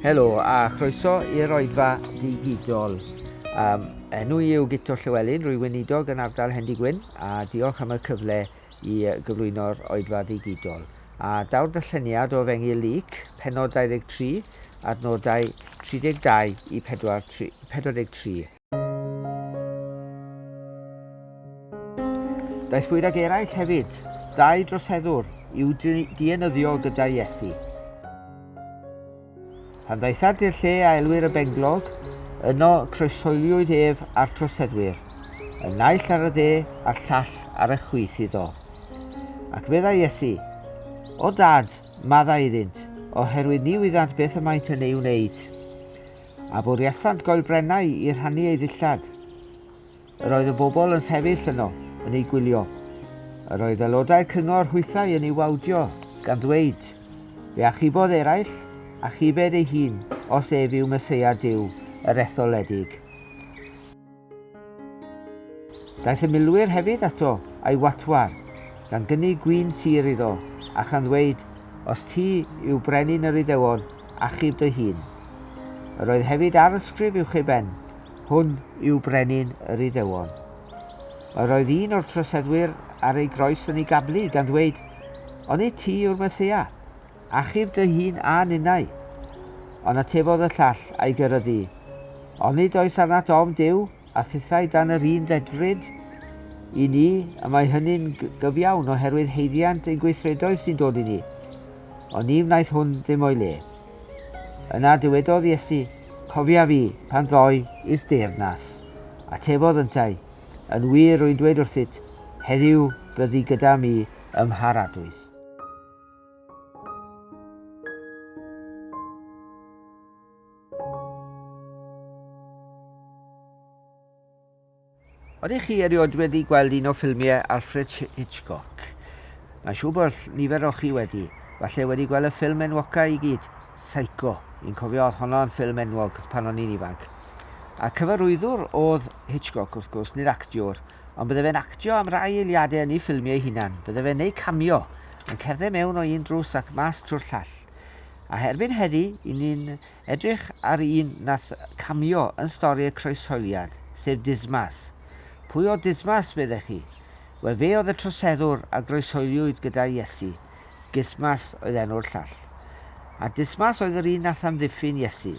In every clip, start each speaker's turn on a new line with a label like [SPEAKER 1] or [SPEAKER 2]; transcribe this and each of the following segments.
[SPEAKER 1] Helo a chroeso i'r oedfa ddigidol. Um, enw i yw Guto Llewellyn, rwy'n weinidog yn ardal Hendy Gwyn a diolch am y cyfle i gyflwyno'r Oedfa Ddigidol, a daw'r darlleniad o Fengi Luc, pennod 23, adnodau 32 i 43. Daethpwyd ag eraill hefyd, dau droseddwr, i'w dienyddio gyda Iesu. Pan ddaethant i'r lle a elwir y Benglog, yno croeshoeliwyd ef a'r troseddwyr, y naill ar y dde a'r llall ar y chwith iddo. Ac meddai Iesu, O Dad, maddau iddynt, oherwydd ni wyddant beth y maent yn ei wneud. A bwriasant goelbrennau i rhannu ei ddillad. Yr oedd y bobl yn sefyll yno, yn ei gwylio. Yr oedd aelodau'r cyngor hwythau yn ei wawdio, gan ddweud, Fe achubodd eraill, achubed ei hun, os ef yw Meseia Duw, yr etholedig. Daeth y milwyr hefyd ato, a'i watwar, gan gynnig gwyn sir iddo, a chan ddweud, Os ti yw brenin yr Iddewon, achub dy hun. Yr oedd hefyd arysgrif uwch ei ben, Hwn yw brenin yr Iddewon. Yr oedd un o'r troseddwyr ar ei groes yn ei gablu, gan ddweud, Onid ti yw'r Meseia? Achub dy hun a ninnau! Ond atebodd y llall a'i gyryddu, Onid oes arnat ofn Duw, a thithau dan yr un ddedfryd? I ni, y mae hynny'n gyfiawn oherwydd haeddiant ein gweithredoedd sy'n dod i ni. Ond ni wnaeth hwn ddim o'i le. Yna dywedodd Iesu, Cofia fi, pan ddoi i'th deyrnas. Atefodd yntau, Yn wir rwy'n dweud wrthyt, heddiw bydd di gyda mi ym Mharadwys. Ydych chi erioed wedi gweld un o ffilmiau Alfred Hitchcock? Mae'n siŵr bod nifer o chi wedi. Falle wedi gweld y ffilm enwocaf i gyd, Psycho. I'n cofio oedd honno yn ffilm enwog pan o'n i'n ifanc. A cyfarwyddwr oedd Hitchcock wrth gwrs, nid actiwr, ond bydde fe'n actio am rai eiliadau yn ei ffilmiau ei hunan. Bydde fe'n neu camio, yn cerdded mewn o un drws ac mas trwy'r llall. A herbyn heddi, i ni'n Edrych ar un nath camio yn stori y croeshoeliad, sef Dismas. Pwy oedd Dismas, meddech chi? Wel, fe oedd y troseddwr a groeshoeliwyd gyda Iesu. Gismas oedd enw'r llall. A Dismas oedd yr un nath amddiffyn Iesu.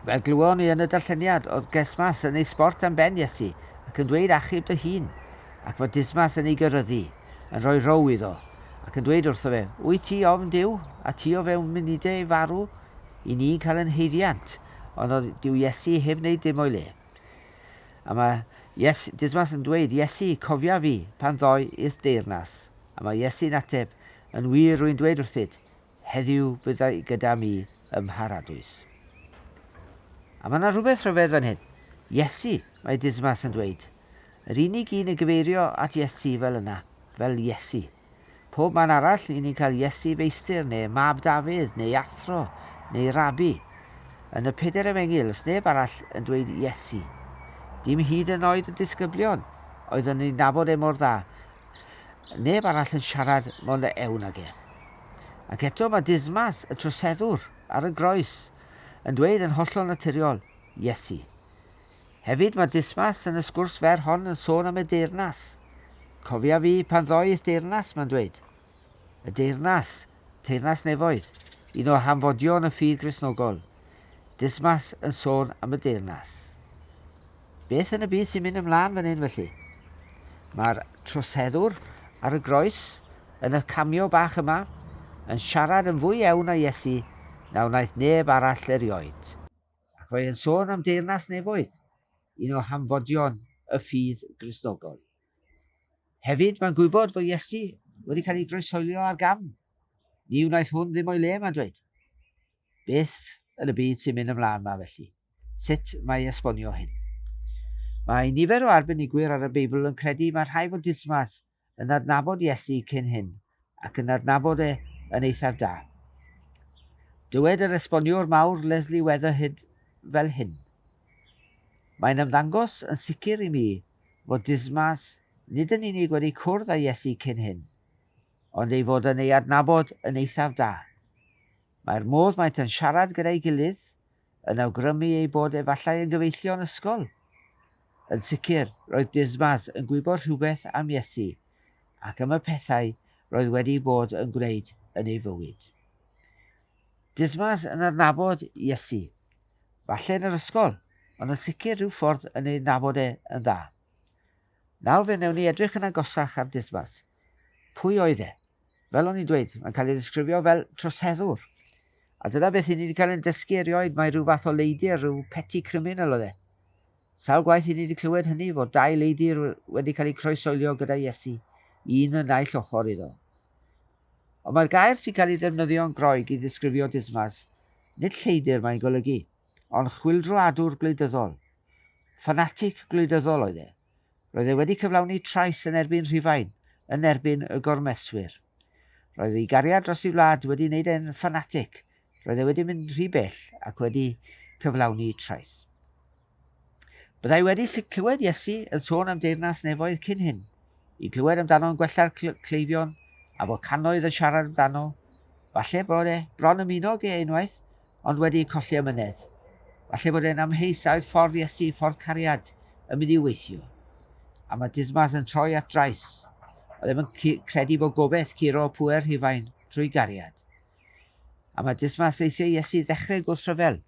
[SPEAKER 1] Fel glywon ni yn y darlleniad, oedd Gesmas yn ei sbort am ben Iesu ac yn dweud achub dy hun, ac fod Dismas yn ei gyrryddu. yn rhoi rhow iddo, ac yn dweud wrtho fe, Wyt ti ofn Duw, a ti o fewn munudau ei farw? Y ni'n cael yn haeddiant, ond oedd Duw Iesu heb wneud dim o'i le. A mae Ies, Dismas yn dweud, Iesu, cofia fi, pan ddoi i'th deyrnas. A mae Iesu'n ateb, Yn wir, rwy'n dweud wrthyd, Heddiw byddai gyda mi ym Mharadwys. A mae yna rhywbeth rhyfedd fan hyn. Iesu, mae Dismas yn dweud. Yr unig un yn cyfeirio at Iesu fel yna, fel Iesu. Pob man arall, i ni'n cael Iesu Feistr, neu Mab Dafydd, neu Athro, neu Rabi. Yn y Pedair Efengyl, does neb arall yn dweud Iesu. Dim hyd yn oed y disgyblion, oedd yn ei nabod e mor dda. Neb arall yn siarad mor ewn ag e. Ac eto mae Dismas, y troseddwr, ar y groes, yn dweud yn hollol naturiol, Iesu. Hefyd mae Dismas yn y sgwrs fer hon yn sôn am y deyrnas. Cofia fi pan ddoith deyrnas, mae'n dweud. Y deyrnas, teyrnas nefoedd, un o hanfodion y ffydd Gristnogol. Dismas yn sôn am y deyrnas. Beth yn y byd sy'n mynd ymlaen fan hyn felly? Mae'r troseddwr ar y groes yn y cameo bach yma yn siarad yn fwy ewn a Iesu na wnaeth neb arall erioed. Ac mae e'n sôn am deyrnas nefoedd, un o hanfodion y ffydd Gristnogol. Hefyd, mae'n gwybod fod Iesu wedi cael ei groesoelio ar gam. Ni wnaeth hwn ddim o'i le, mae'n dweud. Beth yn y byd sy'n mynd ymlaen 'ma felly? Sut mae esbonio hyn? Mae nifer o arbenigwyr ar y Beibl yn credu mae rhai fod Dismas yn adnabod Iesu cyn hyn ac yn adnabod e yn eithaf da. Dywed yr esboniwr mawr Leslie Weatherhead fel hyn, Mae'n ymddangos yn sicr i mi fod Dismas nid yn unig wedi cwrdd â Iesu cyn hyn, ond ei fod yn ei adnabod yn eithaf da. Mae'r modd maent yn siarad gyda'i gilydd yn awgrymu eu bod efallai yn gyfeillion ysgol. Yn sicr, roedd Dismas yn gwybod rhywbeth am Iesu ac am y pethau roedd wedi bod yn gwneud yn ei fywyd. Dismas yn adnabod Iesu, falle yn yr ysgol, ond yn sicr rhyw ffordd yn ei adnabod e yn dda. Nawr fe wnewn ni edrych yn agosach ar Dismas. Pwy oedd e? Fel o'n i'n dweud, mae'n cael ei ddisgrifio fel troseddwr. A dyna beth i ni wedi cael ein dysgu erioed, mae rhyw fath o leidir, rhyw petty criminal oedd e. Sawl gwaith i ni wedi clywed hynny, fod dau leidir wedi cael eu croesoelio gyda Iesu, un yn naill ochr iddo. Ond mae'r gair sy'n cael ei ddefnyddio'n Groeg i ddisgrifio Dismas, nid lleidir mae'n golygu, ond chwildroadwr gwleidyddol. Ffanatic gwleidyddol oedd e. Roedd e wedi cyflawni trais yn erbyn Rhufain, yn erbyn y gormeswyr. Roedd ei gariad dros ei wlad wedi wneud e'n ffanatig, roedd e wedi mynd rhy bell ac wedi cyflawni trais. Byddai wedi clywed Iesu yn sôn am deyrnas nefoedd cyn hyn, i glywed amdano'n gwella'r cleifion, a fod cannoedd yn siarad amdano, falle bod e bron ymuno ag e unwaith, ond wedi eu colli amynedd. Falle bod e'n amheus a oedd ffordd Iesu, ffordd cariad, yn mynd i'w weithio. A mae Dismas yn troi at drais. Oedd e'n credu bod gobeith curo pŵer Rhufain trwy gariad. A mae Dismas eisiau Iesu ddechrau gwrthryfel.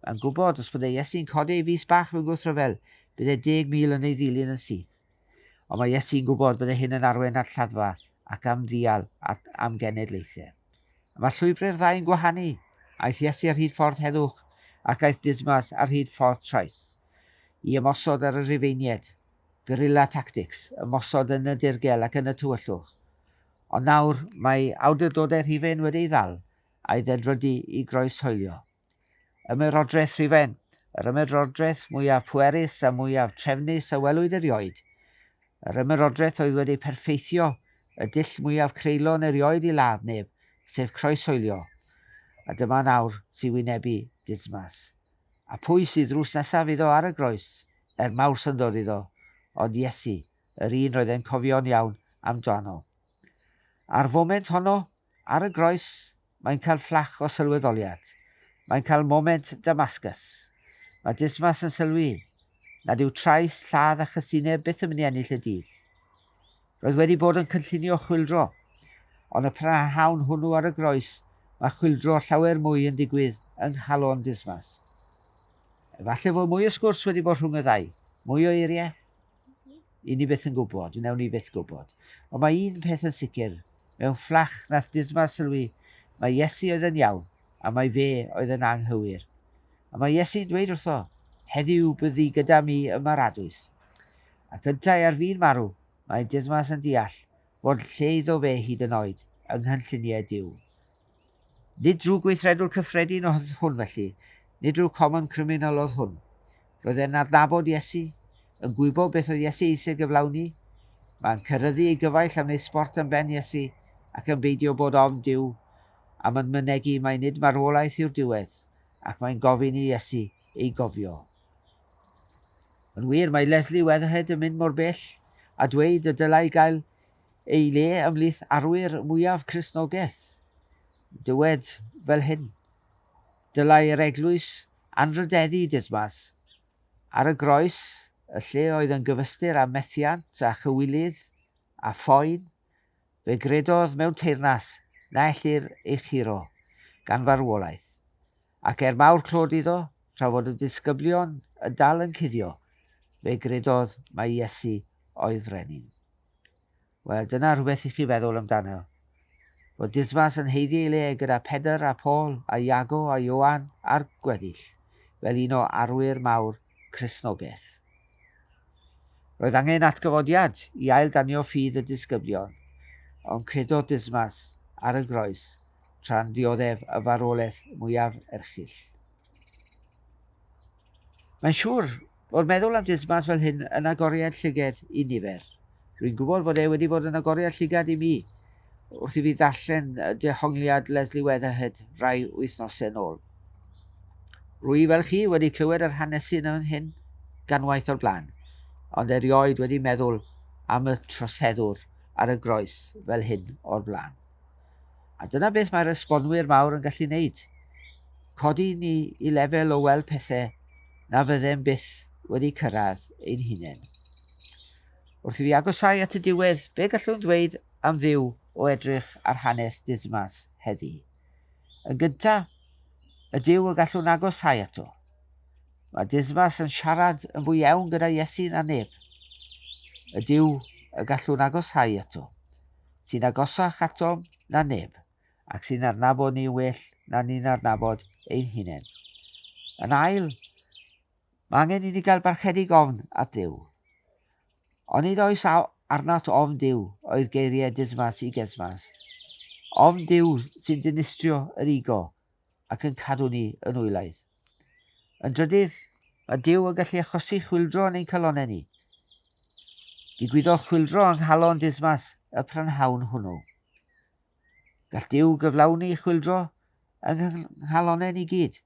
[SPEAKER 1] Mae'n gwybod os bod ei Iesu'n codi ei fys bach mewn gwrthryfel, bydd e deg mil yn ei ddilyn yn syth. Ond mae Iesu'n gwybod byddai hyn yn arwain at lladdfa ac am ddial at amgenedlaethau. Y mae llwybrau'r ddau'n gwahanu. Aeth Iesu ar hyd ffordd heddwch ac aeth Dismas ar hyd ffordd traeth i ymosod ar y Rhufeiniaid. Guerrilla tactics, ymosod yn y dirgel ac yn y tywyllwch. Ond nawr mae awdurdodau Rhufain wedi ei ddal a'i ddedfrydu i groeshoelio. Ymerodraeth Rhufain, yr ymerodraeth mwyaf pwerus a mwyaf trefnus a welwyd erioed. Yr ymerodraeth oedd wedi perffeithio y dull mwyaf creulon erioed i ladd neb, sef croeshoelio. A dyma nawr sy'n wynebu Dismas. A phwy sydd drws nesaf iddo ar y groes? Er mawr syndod iddo, ond Iesu, yr un roedd e'n cofio'n iawn amdano. A'r foment honno, ar y groes, Mae'n cael fflach o sylweddoliad. Mae'n cael moment Damascus. Mae Dismas yn sylwi nad yw trais, lladd a chysineb byth yn mynd i ennill y dydd. Roedd wedi bod yn cynllunio chwyldro, ond y prynhawn hwnnw ar y groes mae chwyldro llawer mwy yn digwydd yng nghalon Dismas. Efallai fod mwy o sgwrs wedi bod rhwng y ddau, mwy o eiriau? 'yn ni byth yn gwybod, 'newn ni byth gwybod. Ond mae un peth yn sicr, mewn fflach nath Dismar sylwi mai Iesu oedd yn iawn a mai fe oedd yn anghywir. A mae Iesu'n dweud wrtho, 'Heddiw bydd di gyda mi ym Mharadwys'. Ac yntau ar fin marw, mae Dismas yn deall fod lle iddo fe hyd yn oed yng nghynlluniau Duw. Nid drwy gweithredwr cyffredin oedd hwn felly, nid rhyw common criminal oedd hwn. Roedd e'n adnabod Iesu, yn gwybod beth oedd Iesu eisiau gyflawni, mae'n cyrryddu ei gyfaill am wneud sbort am ben Iesu ac yn beidio bod ofn Duw am yn mynegi mai nid marwolaeth yw'r diwedd ac mae'n gofyn i Iesu ei gofio. Yn wir, mae Lesley Weatherhead yn mynd mor bell a dweud y dylai gael ei le ymhlith arwyr mwyaf Cristnogaeth. Dywed fel hyn, Dylai yr eglwys anrhydeddu Dismas ar y groes, y lle oedd yn gyfystyr â methiant a chywilydd a phoen, fe gredodd mewn teyrnas na ellir ei churo gan farwolaeth, Ac er mawr clod iddo, tra fod y disgyblion yn dal yn cuddio, fe gredodd mai Iesu oedd Frenin. Wel, dyna rhywbeth i chi feddwl amdano. Fod Dismas yn heiddi ei le gyda Pedr a Paul a Iago a Ioan a'r gweddill, fel un o arwyr mawr Cristnogaeth. Roedd angen atgyfodiad i ail danio ffydd y disgyblion, ond credodd Dismas ar y groes tra'n dioddef y farwolaeth mwyaf erchyll. Mae'n siŵr fod meddwl am Dismas fel hyn yn agoriad llyged i nifer. Rwy'n gwybod fod e wedi bod yn agoriad llygad i mi wrth i fi ddarllen dehongliad Leslie Weatherhead rai wythnosau nôl. Rwy fel chi wedi clywed yr hanesu yn hyn ganwaith o'r blaen, ond erioed wedi meddwl am y troseddwr ar y groes fel hyn o'r blaen. A dyna beth mae'r esbonwyr mawr yn gallu wneud, codi ni i lefel o weld pethe na fyddem byth wedi cyrraedd ein hunain. Wrth i fi agosáu at y diwedd, be gallwn ddweud am Dduw o edrych ar hanes Dismas heddi? Yn gynta, y Duw y gallwn agosáu ato. Mae Dismas yn siarad yn fwy iawn gyda Iesu na neb. Y Duw y gallwn agosáu ato. sy'n agosach atom na neb ac sy'n adnabod ni'n well na ni'n adnabod ein hunain. Yn ail, mae angen i ni gael barchedig ofn at Dduw. Ond nid oes arnat ofn Duw oedd geiriau Dismas i Gesmas. Ofn Duw sy'n dinistrio yr ego ac yn cadw ni yn wylaeth. Yn drydydd, mae Duw yn gallu achosi chwildro yn ein calonnau ni. Digwyddodd chwildro yng nghalon Dismas y prynhawn hwnnw. Gall Duw gyflawni chwildro yng nghalonnau ni gyd,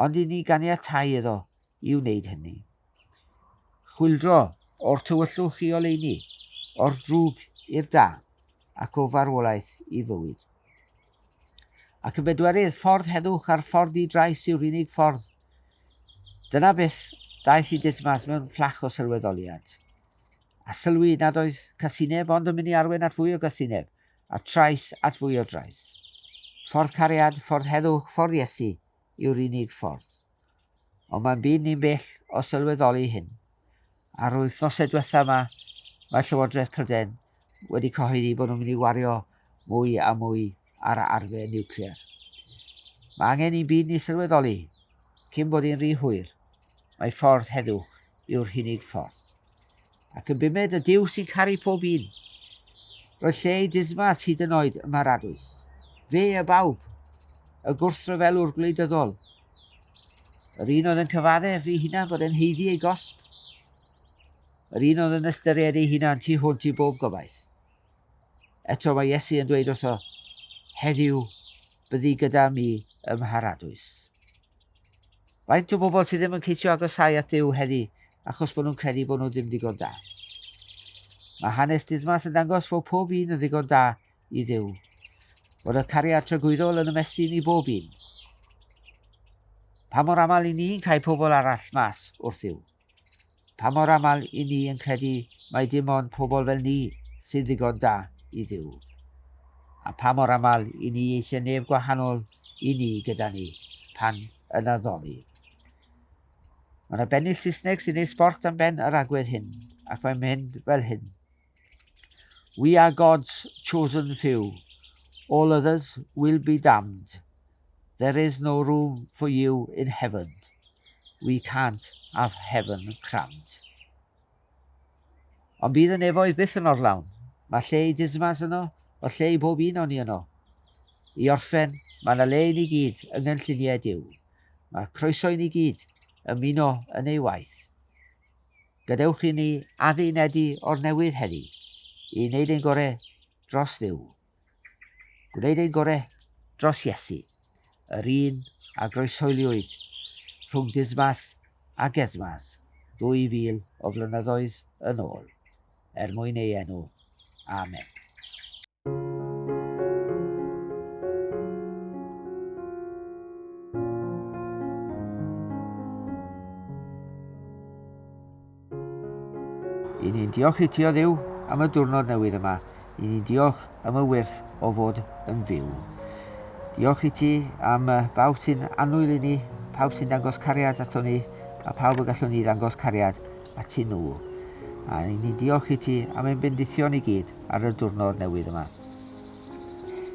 [SPEAKER 1] ond i ni ganiatáu iddo i wneud hynny. Chwildro o'r tywyllwch i oleuni, o'r drwg i'r da, ac o farwolaeth i fywyd. Ac yn bedwerydd, ffordd heddwch a'r ffordd di-drais yw'r unig ffordd. Dyna beth ddaeth i Dismas mewn fflach o sylweddoliad. A sylwi nad oedd casineb ond yn mynd i arwain at fwy o gasineb, a trais at fwy o drais. Ffordd cariad, ffordd heddwch, ffordd Iesu yw'r unig ffordd. Ond mae'n byd ni'n bell o sylweddoli hyn. Ar yr wythnosau diwethaf yma, mae Llywodraeth Prydain wedi cyhoeddi bod nhw'n mynd i wario mwy a mwy ar arfer niwclear. Mae angen i'n byd ni sylweddoli, cyn bod hi'n rhy hwyr, mae ffordd heddwch yw'r hunig ffordd. Ac yn bumed y Duw sy'n caru pob un. Roedd lle i dismas hyd yn oed y maradwys. Fe a bawb, y gwrthryfelwr gwleidyddol. Yr un oedd yn cyfadde fi hunan bod e'n heiddi ei gosb. Yr un oedd yn ystyried ei hunan tu hwnt i bob gobaith. Eto mae Iesu yn dweud wrtho, Heddiw byddi gyda mi ym Mharadwys. Faint o bobl sydd ddim yn ceisio agosáu at Duw heddi achos bod nhw'n credu bod nhw ddim digon da? Mae hanes Dismas yn dangos fod pob un yn ddigon da i Dduw. Bod y cariad tragwyddol yn ymestyn i bob un. Pa mor aml i ni'n cael pobl arall mas wrth Dduw? Pa mor aml i ni yn credu mai dim ond pobl fel ni sy'n ddigon da i Dduw? A pha mor aml i ni eisiau neb gwahanol i ni gyda ni pan yn addoli? Mae yna bennill Saesneg sy'n ei sbort am ben yr agwedd hyn, ac mae'n mynd fel hyn. We are God's chosen few, all others will be damned, there is no room for you in heaven, we can't have heaven crammed. Ond bydd y nefoedd byth yn orlawn. Mae lle i dismas yno, mae lle i bob un o'n i yno. I orffen, mae yna le i ni gyd yng nghynlluniau Dyw. Mae croeso i ni gyd ymuno yn ei waith. Gadewch i ni addunedi o'r newydd heddi, i wneud ein gore dros Dduw. Gwneud ein gore dros Iesu, yr un a groesoeliwyd rhwng Dismas a Gesmas 2000 o flynyddoedd yn ôl, er mwyn ei enw. Amen. I ni'n diolch i ti o ddiw am y diwrnod newydd yma. I ni'n diolch am y wyrth o fod yn fyw. Diolch i ti am bawb sy'n annwyl i ni, pawb sy'n dangos cariad ato ni, a pawb y gallwn ni ddangos cariad at i nhw. A i ni'n diolch i ti am ein bendithion i gyd. ar y diwrnod newydd yma.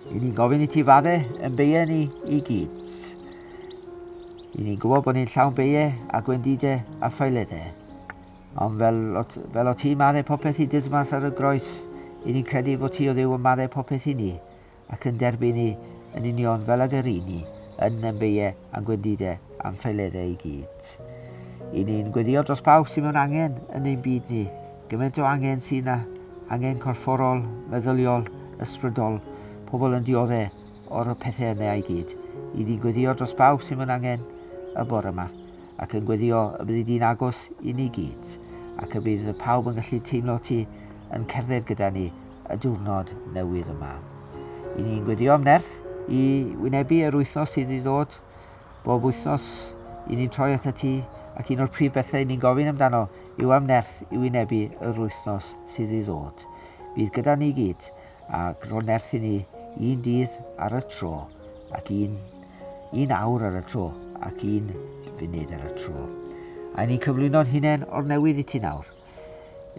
[SPEAKER 1] I ni'n gofyn i ti fadde yn beie ni i gyd. I ni'n gwybod bod ni'n llawn beie a gwendide a ffailede. Ond fel, fel o ti madde popeth i dysmas ar y groes, i ni'n credu bod ti o ddew yn madde popeth i ni. ac yn derbynnu yn union fel ag yr yni yn yn beie a'n gwendide a'n ffeiledde i gyd. I ni'n gweddio dros bawb sy'n mewn angen yn ein byd ni, gyment o angen sy'n na, angen corfforol, meddyliol, ysbrydol, pobl yn diodde o'r y pethe yne a'i gyd. I ni'n gweddio dros bawb sy'n mewn angen y bore yma, ac yn gweddio y byddi di'n agos i ni gyd, ac y bydd pawb yn gallu teimlo ti yn cerdded gyda ni, y diwrnod newydd yma. I ni'n gwedio'n nerth i wynebu yr wythnos sydd i ddod. Bob wythnos i ni'n troi at y ti ac un o'r prif bethau i ni'n gofyn amdano yw am nerth i wynebu yr wythnos sydd i ddod. Bydd gyda ni gyd a gro nerth i ni un dydd ar y tro ac un, un awr ar y tro ac un funud ar y tro. A ni'n cyflwyno'n hunain o'r newydd i ti nawr.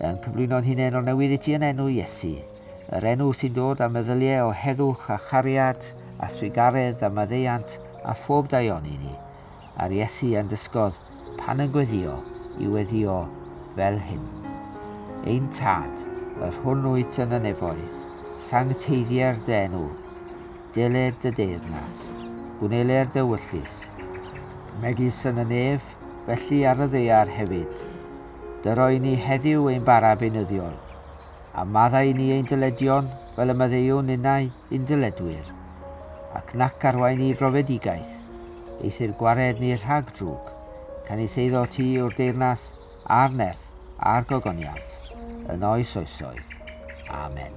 [SPEAKER 1] Yn cyflwyno'n hunenol newydd i ti yn enw Iesu, yr enw sy'n dod â meddyliau o heddwch a chariad a thrugaredd a maddeuant a phob daioni i ni, a'r Iesu a'n dysgodd pan yn gweddio i weddio fel hyn. Ein Tad, yr hwn wyt yn y nefoedd, sancteiddier dy enw, deled dy deyrnas, gwnele'r dy wyllys, megis yn y nef, felly ar y ddaear hefyd. dy roi ni heddiw ein bara beunyddiol, a maddau ni ein dyledion fel y maddeuwn ninnau i'n dyledwyr, ac nac arwain ni i brofedigaeth, eithr gwared ni rhag drwg, canys eiddo ti yw'r deyrnas, a'r nerth, a'r gogoniant, yn oes oesoedd. Amen.